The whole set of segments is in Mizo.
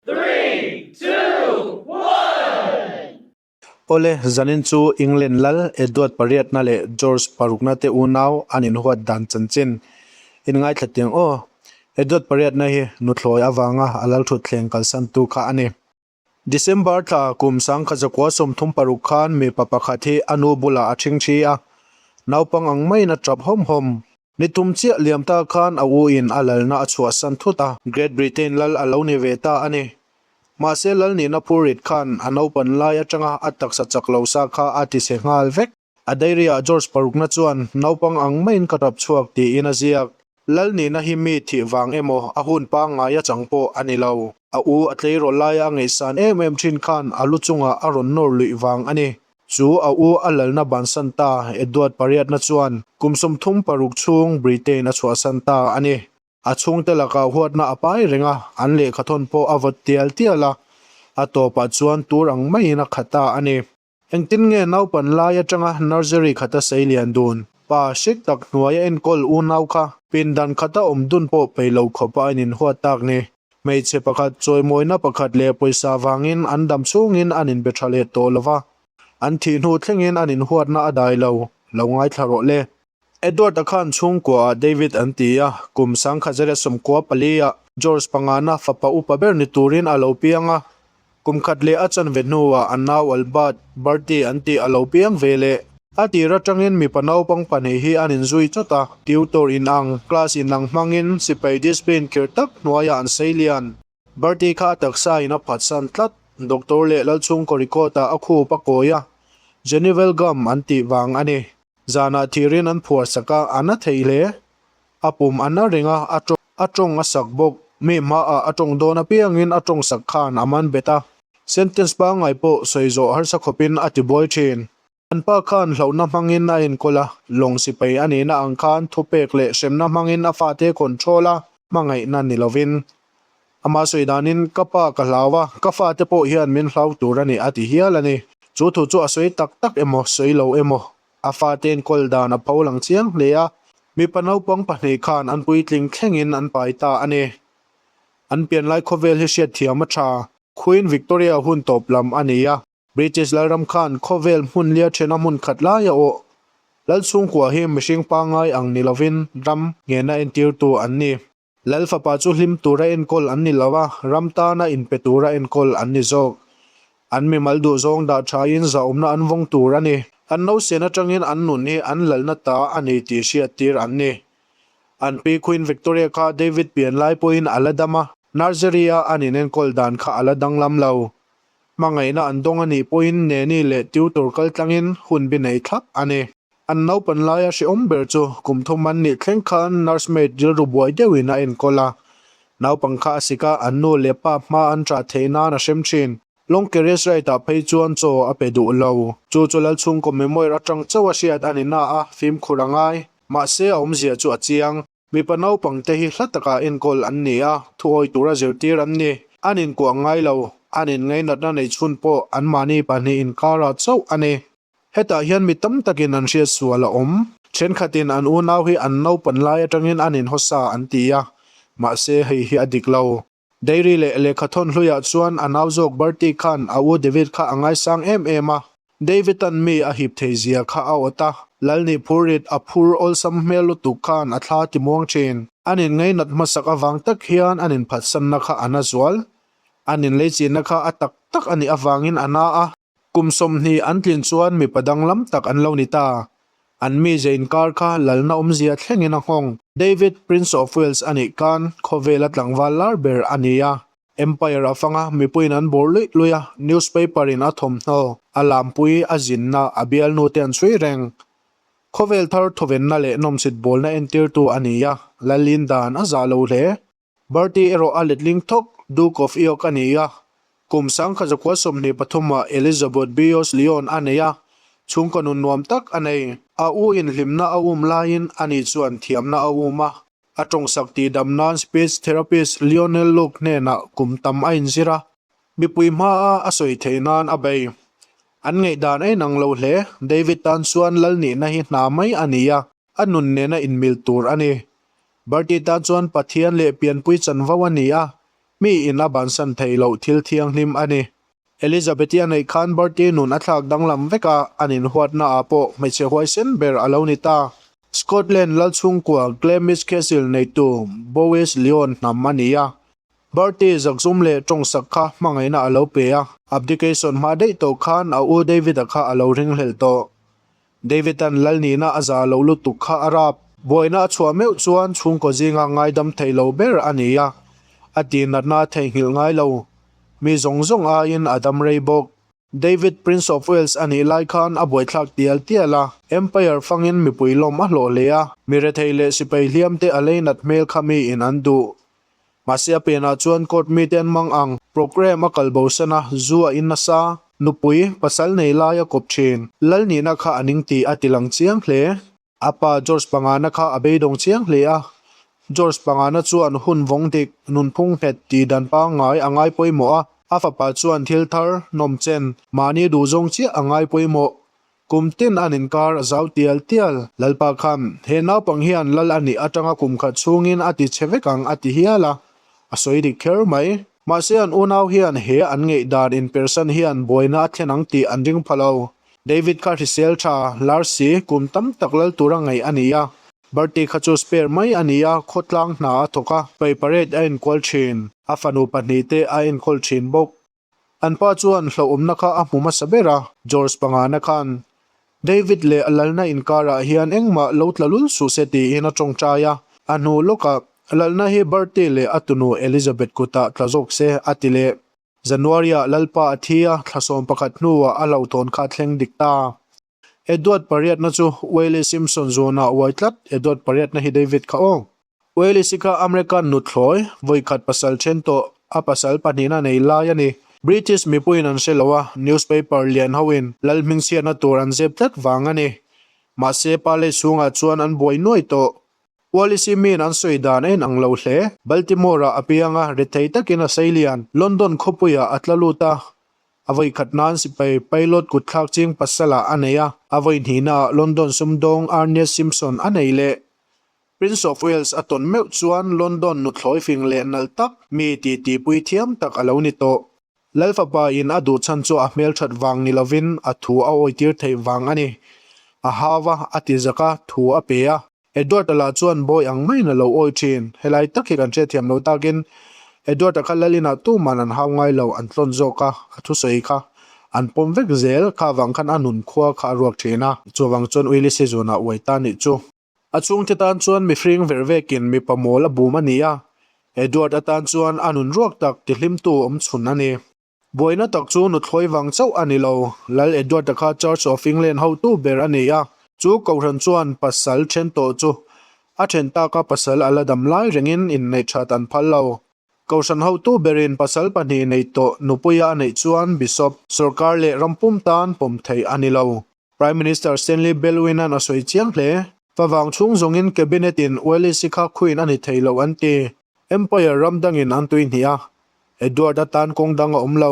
Three, two, one! Awle, zanin chu England lal Edward pariatna leh George parukna te unau an inhuat dan chanchin. In ngaithla tiang aw. Edward pariatna hi nuthlawi avanga a lal thut thleng kalsantu kha a ni. December tla kum sangkhat zakua sawmthum paruk khan mipa pakhat hi a nu bulah a thingthi a, naupang ang maiin a ṭap hawm hawm. Mi tum chiah liam ta khan a u in a lalna a chhuahsan thut a. Great Britain lal a lo ni ve ta a ni. Mahse lal nihna phur rit khan a naupan lai atanga a taksa chak lo sa kha a tise nghal vek. A diary ah George parukna chuan, Naupang ang maiin ka rap chhuak tiin a ziak. Lal nihna hi mi thih vang emaw a hun pangngai achang pawh a ni lo. A u a tleirawh laia a ngaihsan em em thin khan a lu chungah a rawn nawr luih vang a ni. Chu a u a lalna ban san ta Edward pariatna chuan kum sawmthum paruk chhung Britain a chhuah san ta a ni. A chhungte lakah huatna a pai reng a, an lehkha thawn pawh a vawt tial tial a, a tawpah chuan tur ang maiin a khat ta a ni. Engtin nge naupan lai atanga nursery khata sei lian dun? Pa hrik tak hnuaia enkawl u nau kha pindan khata awm dun pawh peilo khawpa a in inhuat tak ni. Hmeichhe pakhat chawimawina pakhat leh pawisa vangin an dam chungin an inbe tha let tawh lo va, an thih hnu thlengin an inhuatna a dai lo, lo ngaithla rawh le. Edward a khan chhungkua ah David an ti a, kum sangkhat zet leh sawmkua pali ah George pangana fapa upa ber ni turin a lo piang a, Kum khat leh a chanve hnuah a nau Albert birthday an tih a lo piang ve le. A tir atangin mipa naupang pahnih hi an inzui chawt a, tutor inang, class inang hmangin sipai discipline kir tak hnuaiah an sei lian. Birthday kha a taksain a phatsan tlat. Doctor leh Lalchhungkaw Ricotta a khup a kawi a, Jenny welgum an tih vang a ni. Zanah thirin an phuarsak a, an a theih hle. A pum an a ring a, a tawng. A tawng a sak bawk. Mi hmaah a tawng dawn apiangin a tawng sak khan a man bet a. Sentence pangngai pawh sawi zawh harsa khawpin a ti buai thin. An pa khan hlauhna hmangin a enkawl a, lawng sipai a nihna ang khan thupek leh hremna hmangin a fate control a, hmangaihna ni lovin. Amah sawi danin, Ka pa ka hlau a, ka fate pawh hian min hlau tur a ni, a ti hial a ni. Chu thu chu a sawi tak tak emaw, sawi lo emaw, a fate'n kawl dan a pho lang chiang hle a. Mipa naupang pahnih khan an puitling thlengin an pai ta a ni. An pian lai khawvel hi hriat thiam a tha. Queen Victoria hun tawp lam a ni a. British Lalram khan khawvel hmun lia thena hmun khat lai a awh. Lal chhungkua hi mihring pangngai ang ni lovin ram ngena entirtu an ni. Lal fapa chu hlim tura enkawl an ni lo a, ram tana inpe tura enkawl an ni zawk. An mimal duhzawng dah thain zahawmna an vawng tur a ni. Kan nausen atangin an nun hi an lalna ta a ni tih hriat tir an ni. An pi Queen Victoria kha David pian lai pawhin a la dam a. Nursery-a an inenkawl dan kha a la danglam lo. Hmangaihna an dawng a nih pawhin neni leh tutor kal tlangin hunbi nei thlap a ni. An naupan laia hrehawm ber chu kum thum an nih thleng khan nurse maid rilru buai deuhin a enkawl a. Naupang kha a sik a, an nu leh pa hma an ṭah theih nan a hrem ṭhin. Longkeres Raitah phei chuan chaw a pe duh lo. Chu chu lal chhungkaw memoir aṭang chauh a hriat a ni na a fimkhur a ngai. Mahse a awmzia chu a chiang. Mipa naupang te hi hla takah enkawl an ni a, thuawi tura zirtir an ni. An inkuah ngai lo, an inngainatna nei chhun pawh an mahni pahnih inkara chauh a ni. Hetah hian mi tam takin an hriat sual a awm. Thenkhatin an unau hi an naupan lai atangin an inhawsa an ti a, mahse hei hi a dik lo. Dairy leh lehkha thawn hluiah chuan a nau zawk Bertie khan a u David kha a ngaisang em em a. David-a'n mi a hip thei zia kha a awt a, Lal nih phur rit a phur awlsam hmel lutuk khan a thla timuang thin. An in ngainat hmasak avang tak hian an in phatsanna kha a na zual. An in leichina kha a tak tak a nih avangin a na a. Kum sawmhnih an tlin chuan mipa danglam tak an lo ni ta. An mizia inkar kha lalna awmzia thlengin a nghawng. David, Prince of Wales a nih kan, khawvel a tlangval lar ber a ni a. Empire a fanga mipuiin an bur luih luih a, newspaper-in a thawmhnaw, a lampui, a zinna, a bialnute an chhui reng. Khawvel thar thawvenna leh nawmchhit bawlna entirtu a ni a, lal in dan a zah lo hle. Bharti erawh a letling thawk Duke of York a ni a, kum sangkhat zakua sawmhnih pathuma Elizabeth Bios Lyon a nei a, chhungkaw nun nuam tak a nei. A u inhlimna a um laiin a ni chuan thiamna a um a. A tawng sak tih dam nan speech therapist Lionel Luke hnenah kum tam a inzir a, mipui hmaa a sawi theih nan a bei. An ngaihdan ain ang lo hle, David tan chuan lal nihna hi hna mai a ni a. A nun nena inmilh tur a ni. Bharti tan chuan Pathian leh pianpui chanvo a ni a, mi in a bansan thei loh thil thianghlim a ni. Elizabeth-i a neih khan Bharti nun a thlak danglam vek a, an inhuatna ah pawh hmeichhe huaisen ber a lo ni ta. Scotland lal chhungkua Glamis Castle neitu Bowes Lyon hnam a ni a, Bharti zakzum leh tawngsak kha hmangaihna a lo pe a. Abdication hma daih tawh khan a u David-a kha a lo ringhlelh tawh. David-a'n Lal nihna a za loh lutuk kha a rap. Buaina a chhuah meuh chuan chhungkaw zinga ngaidam theih lo ber a ni a, a tihnatna a theihnghilh ngai lo. Mi zawng zawng aiin a dam rei bawk. David Prince of Wales a nih lai khan a buaithlak tial tial a, Empire fangin mipui lawm a hlawh hle a. Mi rethei leh sipai hliamte a leinat hmel kha miin an duh Mahse a penah chuan court mite an mang ang. Programme a kal bo sena zu a in nasa. Nupui, pasal nei lai a kawp thin. Lal nihna kha a ning tih a ti lang chiang hle. A pa George Pangana kha a beidawng chiang hle a. George Pangana chuan hun vawng dik, nun phung nghet tih dan pangngai a ngai pawimawh a. A fapa chuan thil thar, nawmchen, mahni duh zawng chiah a ngai pawimawh. Kum tin an inkar zau tial tial. Lalpa khan, He naupang hian lal a nih atanga kum khat chhungin a ti chhe vek ang a ti hial a, a sawi dik kher mai. Mahse an unau hian he an ngeih dan inpersan hian buaina a thlen ang tih an ring pha lo. David kha hrisel tha, Larsi, kum tam tak lal tur a ngaih a ni a. Bertie kha chu spare mai a ni a, khawtlang hna a thawk a, pei parade a enkual thin. A fanu pahnih te a enkawl thin bawk. An pa chuan hlauhawmna kha a hmu hmasa ber a, George pangana khan David leh a Lalna inkarah hian engmah lo tla lul suh se tiin a tawngtai a. A hnu lawkah, Lalna hi Bertie leh a tunu Elizabeth kutah tla zawk se a ti leh January-ah Lalpa a thi a, thlasawm pakhat hnuah a hlauhtawn kha a thleng dik ta. Edward pariatna chu Wayley Simpson zuana uai tlat, Edward pariatna hi David kha awng. Wayley si kha American nutthlawi, vawikhat pasal then tawh a pasal pahnihna nei lai a ni. British mipuiin an hre lo a, newspaper lian hoin lal hming chhiatna tur an zep tlat vang a ni. Mahse, pa lei chhungah chuan an buai nuai tawh. Wayley si miin an sawi dan a in ang lo hle. Baltimore-ah a piang a, rethei takin a sailian London khawpuiah a tla lut a. A vawi khat nan sipai pilot kutthlak ching pasalah a nei a, a vawi hnihna ah London sumdawng Arnett Simpson a nei leh Prince of Wales a tawn meuh chuan London nutthlawi fing leh nalh tak mi tih tihpui thiam tak a lo ni tawh. Lalfapa in a duh chhan chu a hmelthat vang ni lovin a thu a awitir theih vang a ni. A hau a, a tizak a, thu a pe a. Edward a lah chuan bawi ang maiin a lo awi thin. Helai tak hi kan hriatthiam lo takin Edward a kha Lalinah tuman an hau ngai lo an tlawn zawk a, a thusawi kha an pawm vek zel. Kha vang khan a nun khua kha a ruak thin a. Chuvang chuan Uili Sizuna uai ta nih chu. A chhungte tan chuan mihring verh vekin mipa mawl a bum a ni a, Edward atan chuan a nun ruak tak tihlimtu awm chhun a ni. Buaina tak chu nuthlawi vang chauh a ni lo. Lal Edward-a kha Church of England hotu ber a ni a, chu Kohhran chuan pasal then tawh chu a then tak a, pasal a la dam lai rengin inneih that an phal lo. Kohhran hotu berin pasal pahnih neih tawh nupui a neih chuan Bishop, sorkar leh rampum tan pawm theih a ni lo. Prime Minister Stanley Bellwin-a'n a sawi chiang hle. Va vang chhung zawngin Cabinet-in Uelisi kha khuin a ni thei lo an ti. Empire ram dangin an tuihnih a, Edward atan kawng dang a awm lo.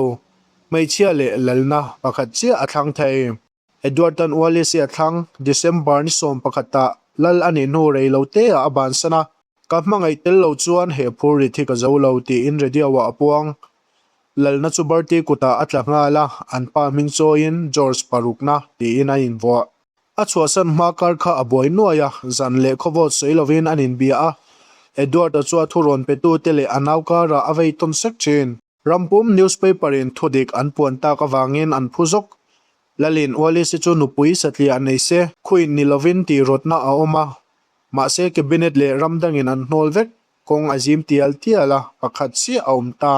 Hmeichhia leh lalna pakhat chiah a thlang thei. Edward tan Uelisi a thlang, December ni sawm pakhatah lal a nih hnu rei lo teah a bansan a. Ka hmangaih tel lo chuan he phur rit hi ka zo lo tiin Rediau-a a puang. Lalna chu Barty kutah a tla nghal a, an pa hming chawiin George Parukna tiin a invuah. A chhuahsan hma kar kha a buai nuai a, zan leh khawvawt sawi lovin an inbia a. Edward-a chu a thurawn petute leh a naukarah a vei tawn sek thin. Rampum newspaper in thu dik an puan tak avangin an phu zawk. Lalin Ualisi chu nupui satliah a nei se, khuin ni lovin tih rawtna a awm a. Mahse cabinet leh ram dangin an hnawl vek, kawng a zim tial tial a, pakhat chiah a awm ta.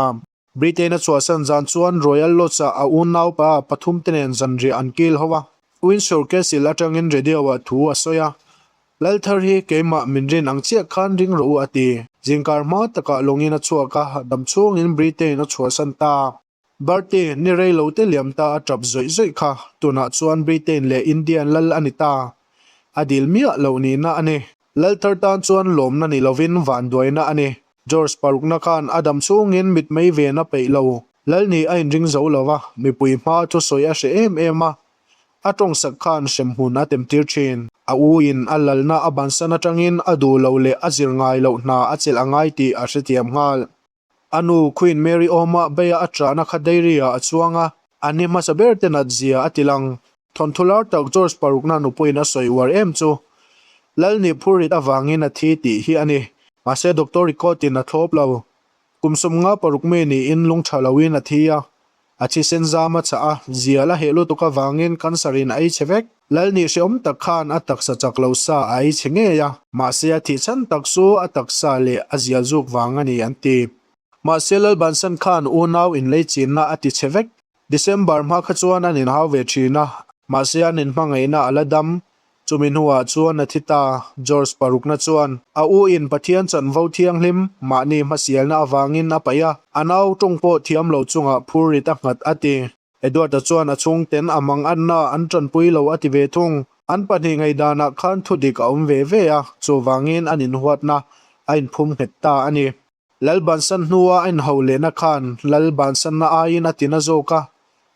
Britain-a chhuahsan zan chuan Royal Lodge-ah a unaupa pathumte nen zanriah an kil ho a. Windsor Castle atangin radio-ah thu a sawi a, Lal thar hi keimah min rin ang chiah khan ring rawh u a ti. Zingkar hma takah lawngin a chhuak a, dam chhungin Britain a chhuahsan ta. Bharti ni rei lo te liam ta a tap zawih zawih kha tunah chuan Britain leh Indian lal a ni ta. A dil miah loh nihna a ni. Lal thar tan chuan lawmna ni lovin vanduaina a ni. George parukna khan a dam chhungin mitmei ven a peih lo. Lal nih a inring zo lo va, mipui hmaa thusawi a hreh em em a, A tawng sak khan hrem hun a temtir thin. A u in a lalna a bansan atangin a duh loh leh a zir ngai loh hna a chelh a ngai tih a hretiam nghal. A nu Queen Mary awmah Beya a trahna kha dairy ah a chuang a, an i hmasa ber te nat zia a ti lang. Thawnthu lar tak George parukna nupawhin a sawi uar em chu Lalni phur rit avangin a thi tih hi a ni. Mahse doctor report in a thlawp lo. Kum sawmnga paruk mei niin lungtha loin a thi a, A thisen zam a chah a, zial a heh lutuk avangin cancer in a ei chhe vek. Lal nih hrehawm tak khan a taksa chak lo sa a ei chhe ngei a, mahse a thih chhan tak chu a taksa leh a zial zuk vang a ni, an ti. Mahse Lalbansan khan unau inleichinna a ti chhe vek. December hma kha chuan an inhau ve thin a, mahse an inhmangaihna a la dam. Chumi hnuah chuan Nathita, George parukna chuan a u in Pathian chanvo thianghlim mahni hmasialna avangin a paih a, a nau tawng pawh thiam lo chungah phur rit a nghat a ti. Edward-a chuan a chhungten a manganna an tanpui lo a ti ve thung. An pahnih ngaidanah khan thudik a awm ve ve a, chuvangin an inhuatna a inphum nghet ta a ni. Lalbansan hnua a inho lehna khan Lalbansanna aiin a tina zawk a,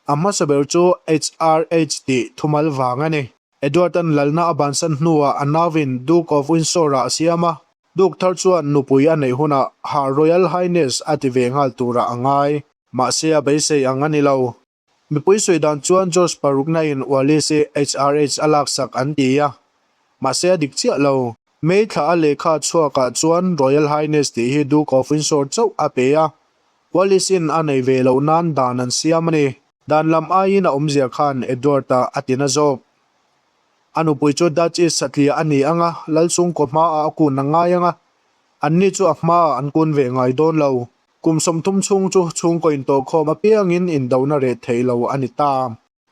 a hmasa ber chu HRH tih thumal vang a ni. Edward-a'n Lalna a bansan hnuah a nauin Duke of Windsor-a a siam a, Duke thar chuan nupui a neih hunah Her Royal Highness a ti ve nghal turah a ngai. Mahse a beisei ang a ni lo. Mipui sawi dan chuan George paruknain Ualese HRH a laksak an ti a, mahse a dik chiah lo. May thla a lehkha chhuakah chuan Royal Highness tih hi Duke of Windsor chauh a pe a, Ualisin a nei ve loh nan dan an siam a ni. Dan lam aiin a awmzia khan Edward-a a ti na zawk. A nupui chu Dutch East satliah a ni ang a, Lalsungkaw hmaah a kun a ngai ang a, anni chu a hmaah an kun ve ngai dawn lo. Kum sawmthum chhung chu chhungkaw intawhkhawm apiangin indohna reh theih lo a ni ta.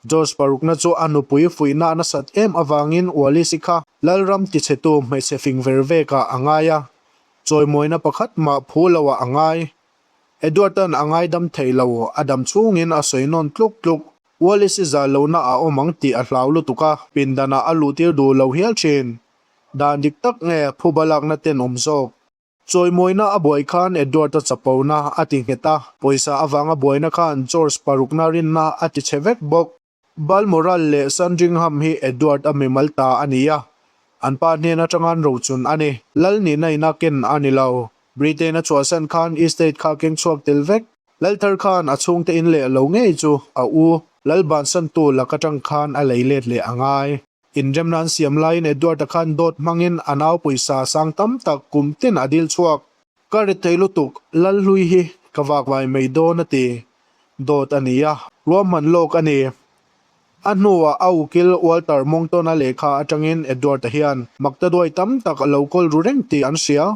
George parukna chu a nupui fuihna a nasat em avangin Ualisi kha Lalram tichhetu hmeichhe fing ver vekah a ngai a, chawimawina pakhat mah phu loah a ngai. Edward-a'n a ngaidam theih lo, a dam chhungin a sawi nawn tluk tluk. Ualisi zal lohna a awm ang tih a hlau lutuk a, pindanah a luhtir duh lo hial thin. Dan dik tak nge phuba lakna ten awm zawk. Chawimawina a buai khan Edward-a chapona a ti nghet a, pawisa avanga buaina khan George parukna rinna a ti che vek bawk. Balmoral leh Sandringham hi Edward-a mimal ta a ni a, an pa hnen atanga'n rochun a ni. Lal nihna ina ken a ni lo. Britain-a chhuahsan khan estate kha a keng chhuak tel vek. Lalthar khan a chhungte in leh lo ngei chu a u, Lal bansantu lak atang khan a lei let leh a ngai. Inremna an siam laiin Edward-a khan dawt hmangin a nau pawisa sang tam tak kum ten a dil chhuak. Ka ri thei lutuk, Lalhlui hi ka vak vai mai dawn a ti. Dawt a ni a, ruahman lawk a ni. A hnuah a ukil Walter Mongton-a lehkha atangin Edward-a hian makta duai tam tak a lo kawl ru reng tih an hria.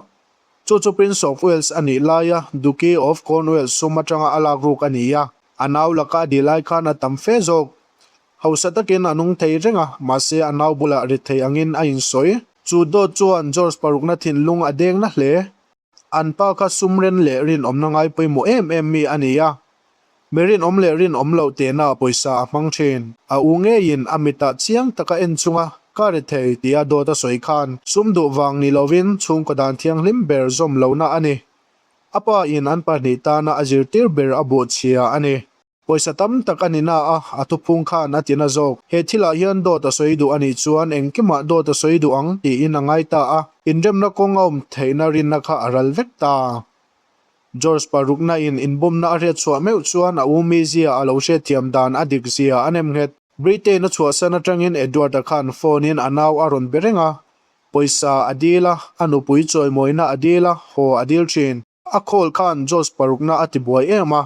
Chu chu Prince of Wales a nih laia Duchy of Cornwall sum atanga a lak ruk a ni a, a nau laka a dih lai khan a tam fe zawk. Hausa takin a nung thei reng a, mahse a nau bulah rit thei angin a insawi. Chu dawt chuan George parukna thinlung a dengna hle. An pa kha sumren leh rinawmna ngai pawimawh em em mi a ni a. Mi rinawm leh rinawm loh tehna pawisa a hmang thin. A u ngeiin a mitah chiang taka en chunga ka ri thei tia dawt a sawi khan sum duh vang ni lovin chhungkaw dan thianghlim ber zawm lohna a ni. A pa in an pahnih tana a zirtir ber a buh chhia a ni. Pawisa tam tak a ni na a, a thuphung khan a ti na zawk. He thilah hian dawt a sawi duh a nih chuan engkimah dawt a sawi duh ang tiin a ngai ta a, inremna kawng a awm theihna rinna kha a ral vek ta. George paruknain inbawmna a hriat chhuah meuh chuan a umi zia a lo hriat thiam dan a dik zia a nem nghet. Britain-a chhuahsan atangin Edward-a khan phone-in a nau a rawn be reng a, pawisa a dil a, a nupui chawimawina a dil a, haw a dil thin. A call khan Josh parukna a ti buai em a,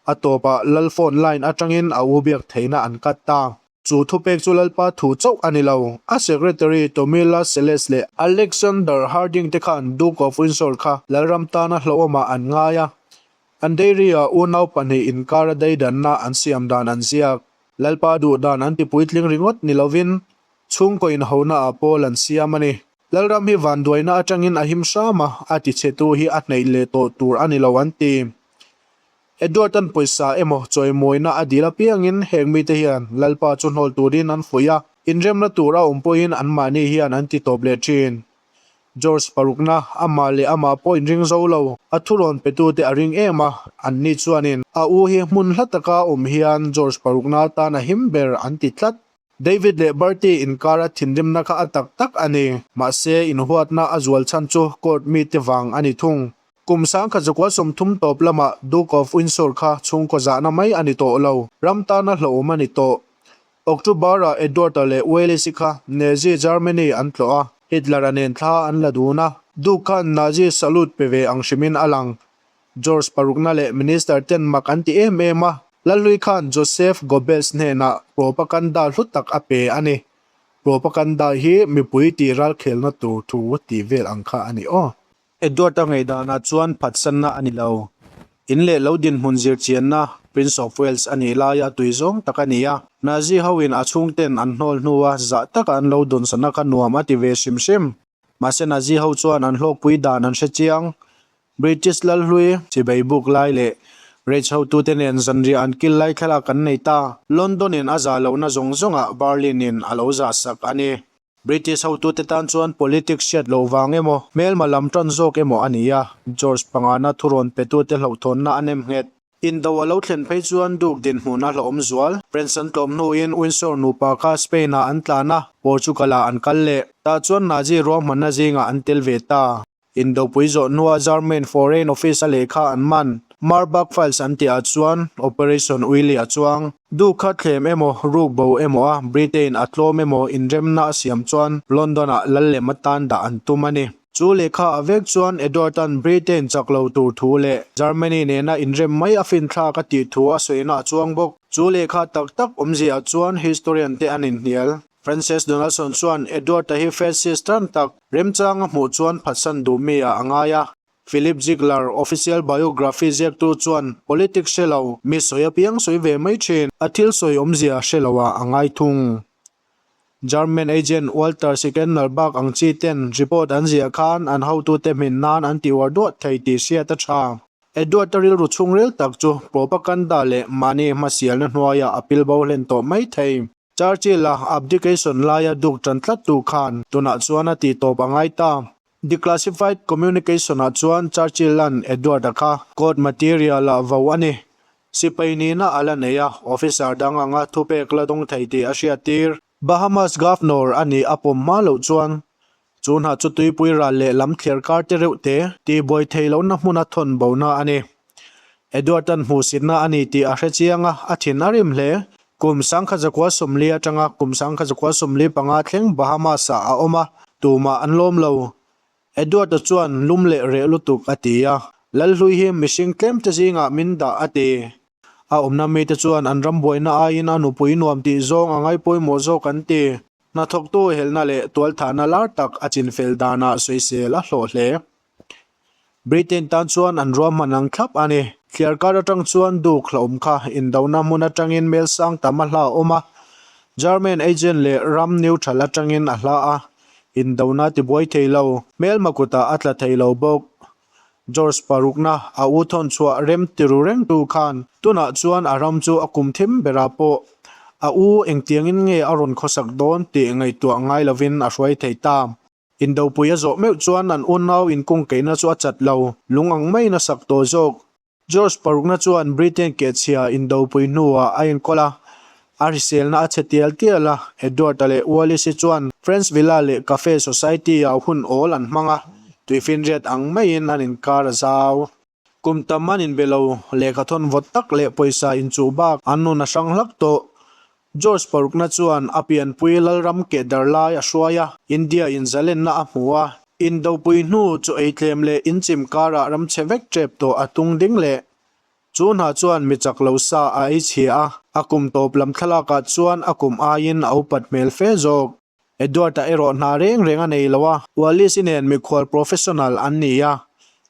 a tawpah Lal phone line atangin a u biak theihna an cut ta. Chu thupek chu Lalpa thu chauh a ni lo. A secretary Tomila Seles leh Alexander Harding te khan Duke of Windsor kha Lalram tana hlauhawmah an ngai a, an dairy-a unau pahnih inkara daidanna an siam dan an ziak. Lalpa duh dan an ti puitling ringawt ni lovin chhungkaw inhonaah pawl an siam a ni. Lalram hi vanduaina atangin a him hram a, a tichhetu hi a hneih leh tawh tur a ni lo an ti. Edward-a'n pawisa emaw chawimuina a dil apiangin heng mite hian Lalpa chu hnawl turin an fuih a, inremna tur a awm pawhin anmahni hian an ti tawp leh thin. George parukna amah leh amah pawhin ring zo lo, a thurawn petute a ring em a, anni chuanin a u hi hmun hla taka awm hian George parukna atan a him ber an ti tlat. David leh Bertie inkara thinrimna kha a tak tak a ni. Mahse, inhuatna a zual chhan chu court mite vang a ni thung. Kum sangkhat zakua sawmthum tawp lamah Duke of Windsor kha chhungkaw zahna mai a ni tawh lo, ram tana hlawhawm a ni tawh. October-ah Edward-a leh Wallis-i kha Nazi Germany an tlawh a, Hitler-a nen thla an la dun a, Duke khan Nazi salute pe ve ang hrimin a lang. George parukna leh Minister ten mak an ti em em a, Lalhlui khan Joseph Goebbels hnenah propaganda hlu tak a pe a ni. Propaganda hi mipui tih ralkhelna tur thu tih vel ang kha a ni aw. Edward a ngeihdana chuan phatsanna a ni lo. In leh lo dinhmun zirchianna Prince of Wales a nih laia a tui zawng tak a ni a. Nazi hoin a chhungten an hnawl hnua zah taka an lo dunsatna kha nuam a ti ve hrim hrim. Mahse Nazi ho chuan an hlawkpui dan an hre chiang, British Lalhlui, Chibeibuk lai leh Reichhotute nen zanriah an kil lai thlalak kan nei ta. London in a za lohna zawng zawng ah Berlin in a lo za sak a ni. British hotute tan chuan politics hriat loh vang emaw, hmelma lam tan zawk emaw a ni a, George Pangana thurawn petute hlauhthawnna a nem nghet. In do a lo thlen phei chuan Duke dinhmun a hlawhawm zual. Prince an tlawm hnu in Windsor nupa kha Spain ah an tlan a, Portugal ah an kal leh. Tah chuan Nazi ruahmanna zing ah an tel ve ta. Indopui zawh hnua German Foreign Office a lehkha an man. Marbach Files an tih ah chuan Operation Uili a chuang. Duke kha thlem emaw, ruk bo emaw a Britain a tlawm emaw inremna a siam chuan London ah lal lem atan dah an tum a ni. Chu lehkha ah vek chuan Edward-a'n Britain chak lo tur thu leh Germany nena inrem mai a finthlak a tih thu a sawi na a chuang bawk. Chu lehkha tak tak awmzia ah chuan historian te an inhnial. Frances Donaldson chuan Edward-a hi Francis tan tak, remchang a hmuh chuan phatsan duh mi a a ngai a. Philip Ziegler, Official Biography ziaktu chuan Politics hre lo, mi sawi a piang sawi ve mai thin, a thil sawi awmzia hre lo a a ngai thung. German agent Walter Sickennal bak ang chi ten report an ziah khan an hotute hmin nan an ti uar duah thei tih hriat a tha. Edward-a rilru chhungrel tak chu propaganda leh mahni hmasialna hnuaia a pilbo hlen tawh mai thei. Churchill-a abdication laia duk tan tlat tur khan tunah chuan a ti tawp a ngai ta. Declassified communication-ah chuan Churchill-a'n Edward-a kha court material-a vo a ni. Sipai nihna a la nei a, officer dang anga thupek la dawng thei tih a hriattir. Bahamas governor a nih a pawm hma loh chuan Chu hnah chu tuipui ral leh lam thliar karte reuh te tihbuai thei lohna hmuna thawn bo na a ni. Eduardan hmuhsitna a ni tih a hre chiang a, a thin a rim hle. Kum sangkhat zakua sawmli atanga kum sangkhat zakua sawmli panga thleng Bahamas-ah a awm a, tumah an lawm lo. Eduarda chuan lum leh reh lutuk a ti a, Lalhlui hi mihring tlemte zingah min dah a ti. A awmna mite chuan an ram buaina aiin a nupui nuam tih zawng a ngaipawimawh zawk an ti. Hnathawktu helhna leh tualthahna lar tak a chinfel danah sawisel a hlawh hle. Britain tan chuan an ruah hman ang thlap a ni. Thliar kar atang chuan Duke hlauhawm kha indona hmun atangin melsang tam a hla awm a, German agent leh ram neutral atangin a hla a, indona ti buai thei lo. Hmelma kutah a tla thei lo bawk, George parukna a u thawn chhuah rem tiru reng tu khan tunah chuan a ram chu a kum thim berah pawh a u engtiangin nge a rawn khawsak dawn tih ngaihtuah ngai lovin a hruai thei ta. Indopuia zawh meuh chuan an unau inkung keihna chu a chat lo, lung ang maiin a sak tawh zawk. George parukna chuan Britain kehchhia indopui hnuah a enkawl a, a hriselna a chhe tial tial a. Edward-a leh Wallis-i chuan Friends Villa leh Cafe Society-ah hun awl an hmang a, tui finriat ang maiin an inkar a zau. Kum tam an inbe lo, lehkhathawn vawt tak leh pawisa inchuh bak an nun a hrang hlak tawh. George parukna chuan a pianpui Lalram Kehdar lai a hruai a, India inzalenna a hmu a, Indopui hnu chu eitlem leh inchim karah ram che vek ṭep tawh a tung ding le. Chu hna chuan mi chak lo sa a ei chhia a, a kum tawp lam thlalakah chuan a kum aiin a upat hmel fe zawk. Edward-a erawh hna reng reng a nei lo a. Wallis-i nen mikhual professional an ni a,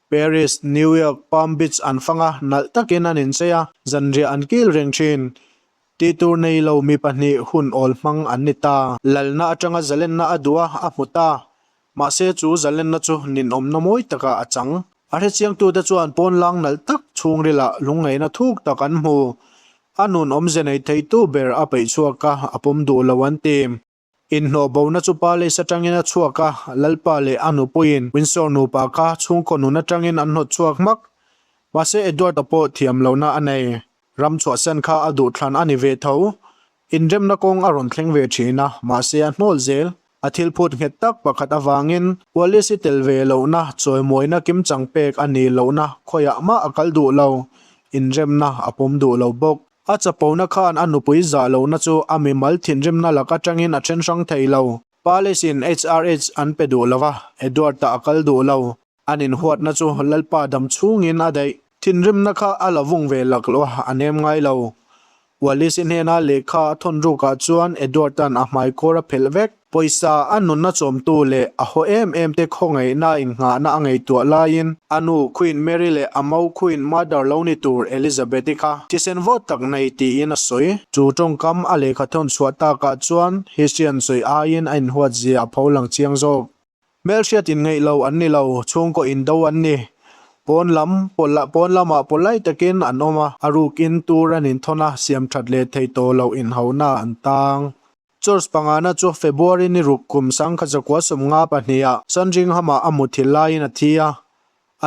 Paris, New York, Palm Beach an fang a, nalh takin an inchei a, zanriah an kil reng thin. Ti tur nei lo mi pahnih hun awl hmang an ni ta. Lalna atanga zalenna a duh a, a hmu ta. Mahse chu zalenna chu ninawmna mawi taka a chang. A hrechiangtute chuan pawn lang nalh tak chhungrilah lungngeihna thuk tak an hmu. A nun awmze nei theitu ber a peih chhuak a, a pawm duh lo an ti. Inhnaw bona chu pa Lace atangin a chhuak a, Lalpa leh a nupuiin Windsor nupa kha chhungkaw nun atangin an hnawt chhuak hmak. Mahse Edward-a pawh thiam lohna a nei. Ram chhuahsan kha a duh thlan a ni ve tho. Inremna kawng a rawn thleng ve thin a, mahse a hnawl zel. A thil phut nghet tak pakhat avangin Wallace i tel ve lohna, chawimuaina kim chang pek a ni lohna khawiah mah a kal duh lo. Inremna a pawm duh lo bawk. A chapona khan a nupui zah lohna chu a mimal thinrimna lak atangin a then hrang thei lo. Pa Lacey-in HRH an pe duh lo va, Edward-a a kal duh lo. An inhuatna chu Lalpa dam chhungin a daih. Thinrimna kha a la vung ve lak lo a, a nem ngai lo. Wallace-i hnena lehkha a thawn rukah chuan Edward-a'n a hmaikawr a phelh vek. Pawisa a nunna chawmtu leh a haw em em te khawngaihna innghahna a ngaihtuah laiin, a nu Queen Mary leh a mo Queen Mother lo ni tur Elizabeth-i kha thisen vawt tak nei tiin a sawi. Chu tawngkam a lehkha thawn chhuah takah chuan History-a'n sawi aiin a inhuat zia a pho lang chiang zawk. Hmelhriat in ngeih lo an ni lo, chhungkaw in do an ni. Pawn lam, pawlh, pawn lamah pawlai takin an awm a, a ruk in tur an in thawn a, siam that leh thei tawh loh inhauna an tang. Church pangana chu February ni ruk kum sangkhat zakua sawm nga pahniah Sandringhamah a muthilh laiin a thi a,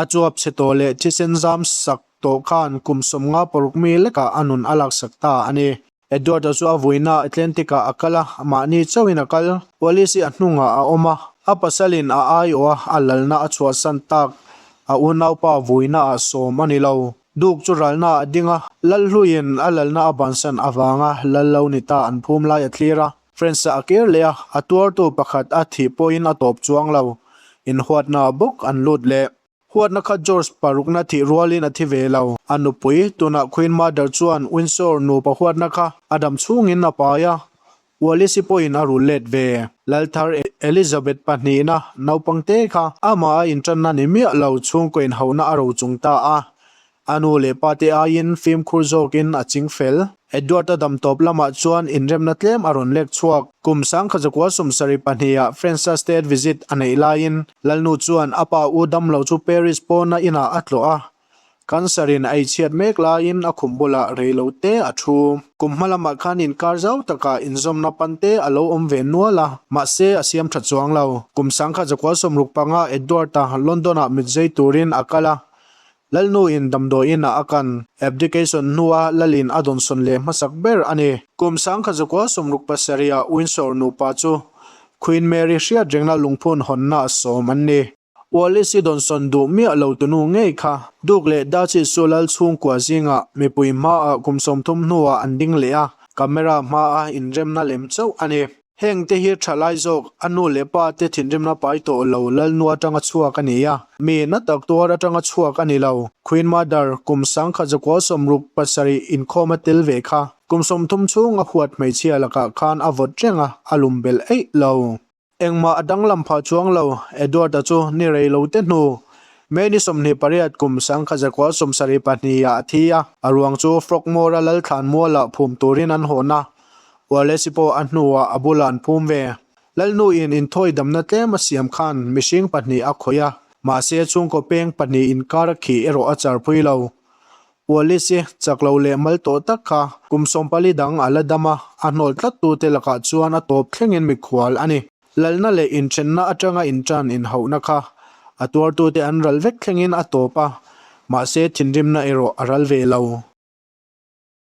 a chuap chhe tawh leh thisen zam sak tawh khan kum sawm nga paruk mi lekah a nun a laksak ta a ni. Edward-a chu a vuina Atlantic-ah a kal a, mahni chauhin a kal. Police-i a hnungah a awm a, a pasalin a aiawh a, a lalna a chhuahsan tak. A unaupa vuinaah sawm a ni lo. Duke chu ralnaah a ding a, lal hluin a lalna a bansan avanga lal lo ni ta an phum lai a thlir a. Friends-a a kir leh a, a tuartu pakhat a thih pawhin a tawp chuang lo. Inhuatna bawk an lut leh. Huatna kha George parukna thih rualin a thi ve lo. A nupui, tunah Queen Mother chuan Windsor nupa huatna kha a dam chhungin a pai a. Ualisi pawhin a rul let ve. Lalthar Elizabeth pahnihna naupangte kha amah a inṭanna ni miah lo chhungkaw inhohna a ro chung ta a. A nu leh pa te aiin fimkhur zawkin a ching fel. Edward-a damtawp lamah chuan inremna tlem a rawn lek chhuak. Kum sangkhat zakua sum sarih pahniha French-a state visit a neih laiin Lalnu chuan a pa u damlo chu Paris pawna inah a tlawh a. Kan sarhin a ichhiat mek laiin a khum bulah rei lo te a thu. Kum hma lamah khan inkar zau taka inzawmna pan te a lo awm ve nual a, mahse a siam tha chuang lo. Kum sangkhat zakua sum ruk panga Edward-a London-ah mitzei turin a kal a. Lalnu in damdawi in ah a kan abdication hnu a Lal in a dawnsawn leh hmasak ber a ni. Kum sangkhat zakua sawmruk pasarih ah Windsor nupa chu Queen Mary hriat rengna lungphun hawnna a sawm an ni. Wallis i dawnsawn duh miah lo tunu ngei kha Duke leh Duchess chu Lal chhungkua zingah mipui hma ah kum sawmthum hnu ah an ding leh a, camera hma a inremna lem chauh a ni. Heng te hi tha lai zawk, a nu leh pa te thinrimna pai tawh lo lalnu atanga chhuak a ni a, mi na tak tuar atanga chhuak a ni lo. Queen Mother kum sangkhat zakual sawm ruk pasarih inkhawm a tel ve kha, kum sawmthum chhung a huat hmeichhia lakah khan a vawt reng a, a lum belh eih lo. Engmah a danglam phah chuang lo, Edward-a chu ni rei lo te hnu, May ni sawmhnih pariat kum sangkhat zakual sawm sarih pahnih ah a thi a, a ruang chu Frogmore-a Lalthlan mual ah phum turin an hawn a, Hualesi pawh a hnuah a bulah an phum ve. Lalnuin inthawi damna tlem a siam khan mihring pahnih a khawih a, mahse chhungkaw peng pahnih inkar a khih erawh a charpui lo. Hualesi chak lo leh mal tawh tak kha kum sawmpali dang a la dam a, a hnawl tlattute lakah chuan a tawp thlengin mikhual a ni. Lalna leh inthenna atanga intan inhauhna kha a tuartute an ral vek thlengin a tawp a, mahse thinrimna erawh a ral ve lo.